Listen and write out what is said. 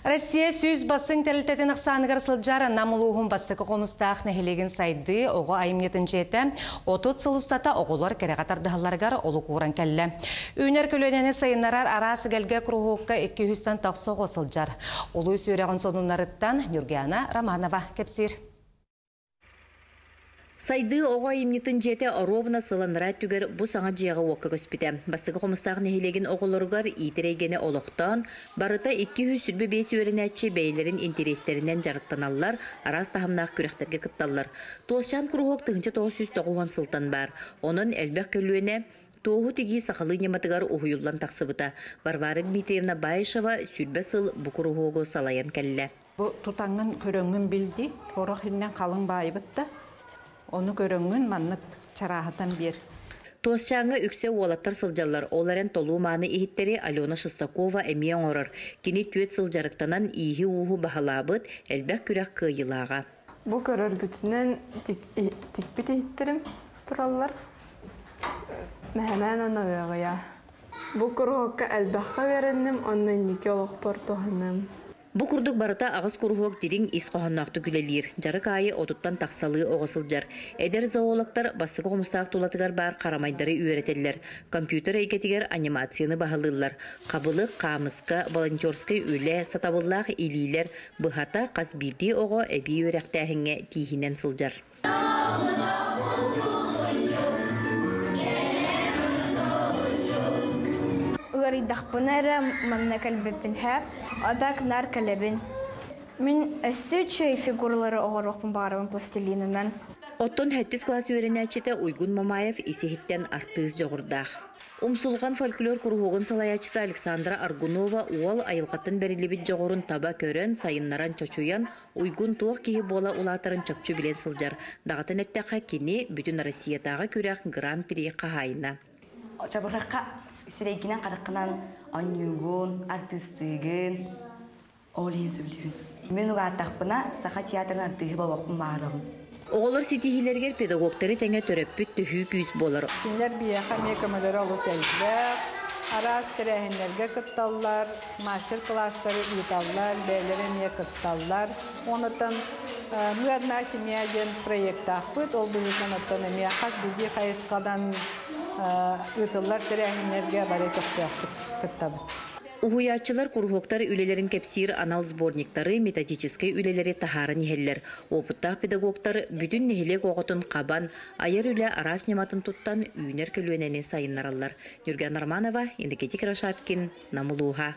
Россия сүүс бассыын тэрилтэтин ахсааныгар сылдьар Нам улууһун бастакы хомустаах нэһилиэгин сайдыы оҕо айымньытын дьиэтэ 30 сыл устата оҕолор кэрэҕэ тардыһалларыгар олук ууран кэллэ. Үүнэр көлүөнэни сайыннарар араас эгэлгэ куруһуокка икки үстэн тахса оҕо сылдьар. Улуус үөрэҕин сонуннарыттан Нюргиана Романова кэпсиир. Сайдыы оҕо айымньытын дьиэтэ оруобуна сыланара өттүгэр бу саҥа дьиэҕэ-уокка көспүтэ. Бастакы Хомустаах нэһилиэгин оҕолоругар иитэр эйгэни олохтоон, барыта икки үс сүүрбэ биэс үөрэнээччи бэйэлэрин интэриэстэринэн дьарыктаналлар, араас таһымнаах күрэхтэргэ кытталлар. Туосчаан куруһуок тыһыынча тоҕус сүүс тоҕус уон сылтан баар. Онон элбэх көлүөнэ туоһу тигии сахалыы ньыматыгар уһуйуллан тахсыбыта. Варвара Дмитриевна Баишева сүүрбэ сыл бу куруһуогу салайан кэллэ. Бу тутаҥҥын көрөҥҥүн бил дии, оруох иннин халыҥ баайбыт да, ону көрөҥҥүн маннык чарааһытан биэр. Туосчааҥҥа үксэ уолаттар сылдьаллар, ол эрэн толуу-мааны иһиттэри Алена Шестакова эмиэ оҥорор. Кини түөрт сыл дьарыктанан ииһи-ууһу баһылаабыт, элбэх күрэх кыайыылааҕа. Бу көрөргүтүнэн тикпит иһиттэрим тураллар. Мэһэмээн аны ыаҕыйа. Бу куруһуокка элбэххэ үөрэнним уонна инники олохпор туһаныам. Бу курдук барыта аҕыс куруһуок дириҥ ис хоһоонноохтук үлэлиир, дьарык аайы отуттан тахсалыы оҕо сылдьар. Эдэр зоологтар бастакы хомустаах тулатыгар баар харамайдары үөрэтэллэр, компьютер эйгэтигэр анимацияны баһылыыллар. Хабылык, хаамыска, волонтерскай үлэ, сатабыллаах илиилэр быһата хас биирдии оҕо эбии үөрэхтээһиҥҥэ тииһинэн сылдьар. Ыарыйдахпына эрэ манна кэлбиппин һэ, атак нар кэлэбин. Мин өссө үчүгэй фигуралары оҥоруохпун баҕарабын пластилинынан. Оттон 70 класс үөрэнээччитэ Уйгун Мамаев ис-иһиттэн артыыс дьоҕурдаах. Умсулҕан фольклор куруһуогун салайааччыта Александра Аргунова уол айылҕаттан бэриллибит дьоҕурун таба көрөн, сайыннаран чочуйан, Уйгун туох киһи буола улаатарын чопчу билэн сылдьар, даҕатан эттэххэ, кини бүтүн Россиятааҕы күрэх Гран-при хаһаайына. Оччобурахха сирэйгинэн хараххынан оонньуугун, артыыстыыгын ол иһин сөбүлүүгүн. Мин улааттахпына саха театрын артыыһа буолуохпун баҕарабын. Оҕолор ситиһиилэригэр педагогтары тэҥэ төрөппүт төһүү күүс буолар. Кинилэр биһиэхэ эмиэ көмөлөрө олус элбэх. Араас тэрээһиннэргэ кытталлар, мастер-кылаастары ыыталлар, бэйэлэрэ эмиэ кытталлар. Онтон Мы одна семья диэн проектаахпыт, ол быһыытынан оттон эмиэ хас биирдии хайысханан ыытыллар тэрээһиннэргэ бары көхтөөхтүк кыттабыт. Уһуйааччылар куруһуоктар үлэлэрин кэпсиир анал сборниктары, методическай үлэлэри таһааран иһэллэр. Уопуттаах педагогтар бүтүн нэһилиэк оҕотун хабан, айар үлэ араас ньыматын туттан, үүнэр көлүөнэни сайыннараллар. Ньурган Романова, Енергетик Рашапкин, Нам улууһа.